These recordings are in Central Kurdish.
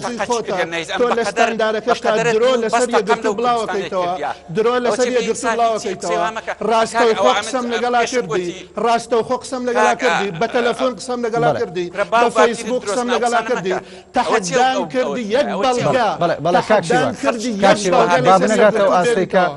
جی خۆتە تۆ لە ستاندارەکەشتا درۆ لەسەر یەکگرتوو بڵاوەکەیتەوە درۆ لەسەر یەکگرتوو بڵاوەکەیتەوە ڕاستەوخۆ قسەم لەگەڵا کردی ڕاستەوخۆ قسەم لەگەڵا کردی بە تەلەفۆن قسەم لەگەڵا کردی بە فەیسبووک قسەم لەگەڵا کردی تەحەدام کردی یەک بەڵگە تەحەدام کردی یەک بەڵگە لەسەر یەکگرتوو بێنیتەوە.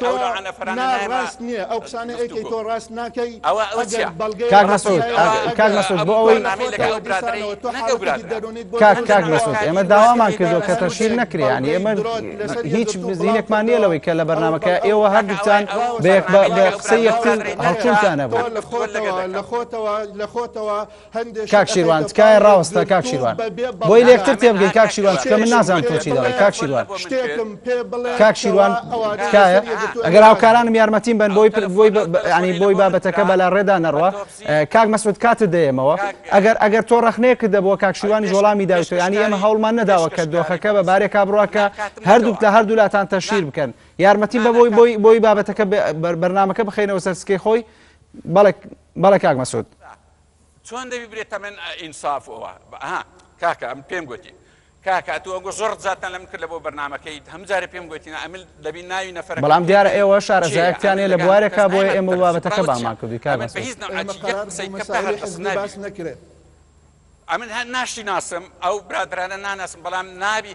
تۆ نا ڕاست نیە ئەو قسانە ئەیکەی تۆ ڕاست ناکەی ئەگەر بەڵگەی کاک مەسعود کاک مەسعود بۆ ئەوەی کاک کاک مەسعود ئێمە داوامان کردو کە تەشیر نەکرێ یعنی ئێمە هیچ زیینێکمان نیە لەوەی کە لە بەرنمەکە ئێوە هەردووتان بە قسە یەکتر هەڵچونتانە بۆ لە خۆتەوە لە خۆتەوە کاک شیروان تکایە ڕاوەستە کاک شیروان بۆی لێکتر تێبگەی کاک شیروان چکە من نازانم تۆ چی دەڵێی کاک شیروان کاک شیروان تکایە ئەگەر هاوکارانم یارمەتیم بن بۆی بۆی ینی بۆی بابەتەکە بەلا ڕێدا نەڕوە کاک مەسود کاتت دەیەمەوە ئەگەر ئەگەر تۆ ڕخنەیە کردە بۆ کاک شیروانی جوڵامی داویتۆ ینی ئێمە هەوڵمان نەداوە کە دۆخەکە بە بارێکا بڕواکە هەردووک لە هەردوو لاتان تەشیر بکەن یارمەتی بە بۆی بۆی بۆی بابەتەکە بەرنمەکە بخینەوە سەرسکەی خۆی بەڵێک بەڵێ کاک مەسود چۆن دەبی برێ تەمەن ئینساف ئەوە ها کاکە ئەم پێم گوتی کاکە ئەتو ئەگو زۆر زاتان لەم کرد لە بۆ بەرنمەکەیت هەم جارە پێم گوتین ئەمل دەبی ناوی نەفر بەڵام دیارە ئێوە شارەزایەکتیانێ لە بوارێکا بۆ ئێمە وڵاتەکە بامان کردی کار نەکرێت ئەمن هەر ناشی ناسم ئەو برادرانە ناناسم بەڵام نابی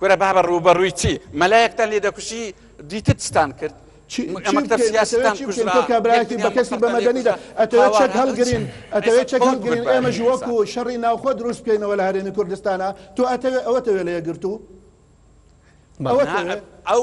کورە بابە ڕووبەڕووی چی مەلایەکتان لێ دەکوشی دیتر چتان کرد چی چی بکەین ئەتەوێت چی بکەین تۆ کابرایەتی بە کەسی بە مەدەنیدا ئەتەوێت چەک هەڵگرین ئەتەوێت چەک هەڵگرین ئێمەش وەکو شەڕی ناوخۆ دروست بکەینەوە لە هەرێمی کوردستانا تۆ ئەتەوێت ئەوەتەوێت لە یەکگرتوو ئەوەتەوێت ئەو